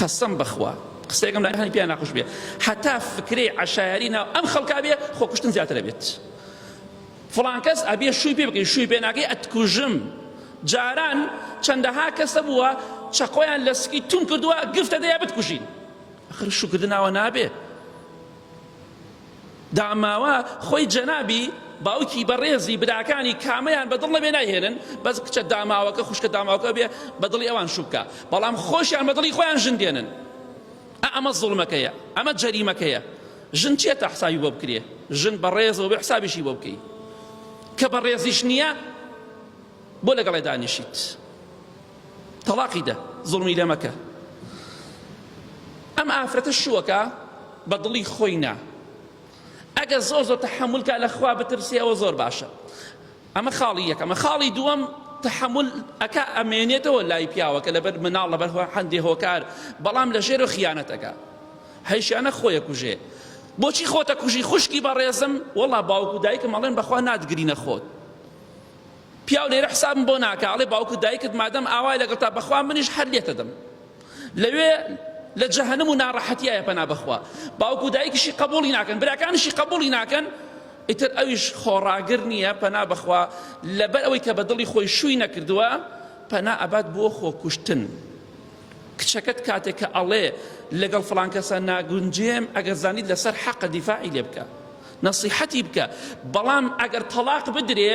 قەسەم بەخوا قسەیەکم لەکانی پێیان ناخۆش بێ هەتا فکرەی عشایری ناو ئەم خەڵکا بێ خۆ کوشتن زیاترە بێت فڵان کەس ئەبێ شووی پێ بکەین شووی پێناگەی ئەتکوژم جاران چەندەها کەسە بووە چەقۆیان لە سکی تون کردووە گفتە دەیە بتکوژین ئەخر شوکردناوە نابێ داماوە خۆی جەنابی باوکی بەڕێزی براکانی کامەیان بەدڵ نەبێ نایهێنن بەس کچە داماوەکە خوشکە داماوەکە بێ بەدڵی ئەوان شوبکە بەڵام خۆشیان بەدڵی خۆیان ژن دێنن ئەمە زڵمەکەیە ئەمە جەریمەکەیە ژن چێت تا حسابی بۆ بکرێ ژن بەڕێزەوە بێ حسابیشی بۆ بکەی کە بەڕێزیش نییە بۆ لەگەڵێ دانیشیت تەڵاقی دە زوڵمی لێ مەکە ئەم ئافرەتە شووەکە بە دڵی خۆی نا ئەگەر زۆر زۆر تەحملکە لە خوا بترسێ ئەوە زۆر باشە ئەمە خاڵی یەکەمە خاڵی دووەم تحمل ئەک ئەمێنێتەوە لای پیاوەکە لەبەر مناڵ لەبەر هەندێ هۆکار بەڵام لە ژێرە خیانەتەکە هەیشانە خۆیە کوژێ بۆچی خۆتە کوژی خوشکی بەڕێزم وەڵا باوکو دایکم ئەڵێن بەخوا نادگرینە خۆت پیاو لێرە حسابم بۆ ناکا ئەڵێ باوک و دایکت مادەم ئاوای لەگەڵ تا بەخوا منیش هەر لێتەدەم لەوێ لە جەهەنم و ناڕەحەتیایە پەنا بەخوا باوک و دایکیشی قبوڵی ناکەن براکانیشی قبوڵی ناکەن ئیتر ئەویش خۆڕاگر نییە پەنا بەخوا لەبەر ئەوەی کە بە دڵی خۆی شووی نەکردووە پەنا ئەبات بۆ خۆکوشتن کچەکەت کاتێک کە ئەڵێ لەگەڵ فلانکەسە ناگونجێم ئەگەر زانیت لەسەر حەقە دیفاعی لێ بکە نەسیحەتی بکە بەڵام ئەگەر تەڵاق بدرێ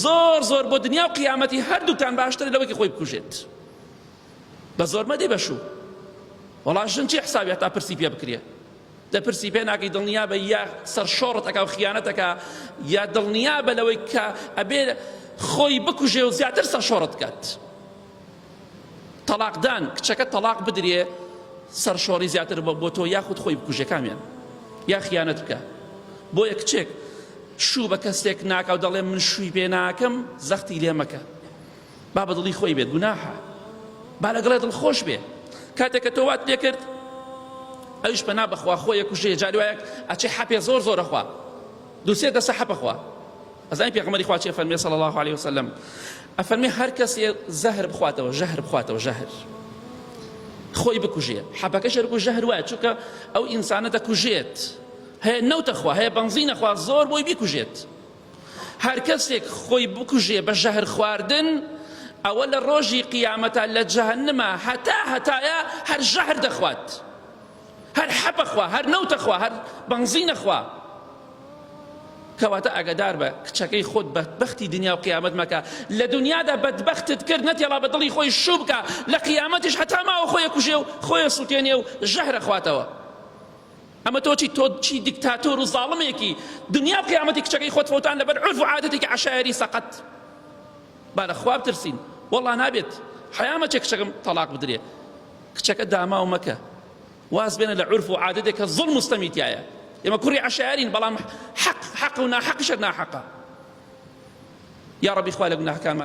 زۆر زۆر بۆ دنیا و قیامەتی هەردووکتان باشترە لەوەکی خۆی بکوژێت بە زۆر مەدەی بەشوو وەڵا ژن چی حسابی هەتا پرسی پێ بکرێ دە پرسی پێ ناکەی دڵنیا بە یا سەرشۆڕت ئەکا و خیانەتەکە یا دڵنیا بە لەوەی کە ئەبێ خۆی بکوژێ و زیاتر سەرشۆڕت کات تەڵاقدان کچەکە تەڵاق بدرێ سەرشۆڕی زیاتر بە بۆ تۆ یاخود خۆی بکوژە کامیان یا خیانەت بکە بۆیە کچێک شوو بە کەسێک ناکە و دەڵێ من شووی پێ ناکەم زەختی لێ مەکە با بە دڵی خۆی بێت گوناحە با لەگەڵێ دڵ خۆش بێ کاتێک کە تۆ وات لێ کرد ئەوش پەنا بەخوا خۆیە کوژێ جاروایەک ئەچێ حەپێ زۆر زۆرەخوا دوسێ دەسە حەپەخوا ئەزانی پێغەمبەری خوا چی ئەفەرموێ صلی اللە علیە وسلم ئەفەرموێ هەر کەسێ زەهر بخواتەوە ژەهر بخواتەوە ژەهر خۆی بکوژێ حەبەکەش هەر گوو ژەهر وایە چونکە ئەو ئینسانە دەکوژێت هەیە نەوتە خوا هەیە بەنزینە خوا زۆر بۆی بیکوژێت هەر کەسێک خۆی بکوژێ بە ژەهر خواردن ئەوە لە ڕۆژی قیامەتە لە جەهنمە هەتا هەتایە هەر ژەهر دەخوات هەر حەپە خوا هەر نەوتە خوا هەر بەنزینە خوا کەواتە ئاگادار بە کچەکەی خۆت بەدبەختی دنیا و قیامەت مەکە لە دنیادا بەدبەختت کرد نەتێڵا بە دڵی خۆی شوو بکە لە قیامەتیش هەتا ماوە خۆی کوژێ و خۆی سووتێنێ و ژەهرە خواتەوە ئەمە تۆچی تۆ چی دیکتاتۆر و زاڵمێکی دنیا و قیامەتی کچەکەی خۆت فەوتان لەبەر عرف و عادەتێکی عشایری سەقەت با لە خواب ترسین والله نابێت حیامەچێک کچەکەم تەلاق بدرێ کچەکە داماو مەکە واز بێنە لە عورف و عادەتێک کە زوڵم و ستەمی تایە ئێمە کوڕی عەشارین بەڵام حەق حەق و ناحەقیشت ناحەقە یا ڕەبی خوا لە گوناهەکانمان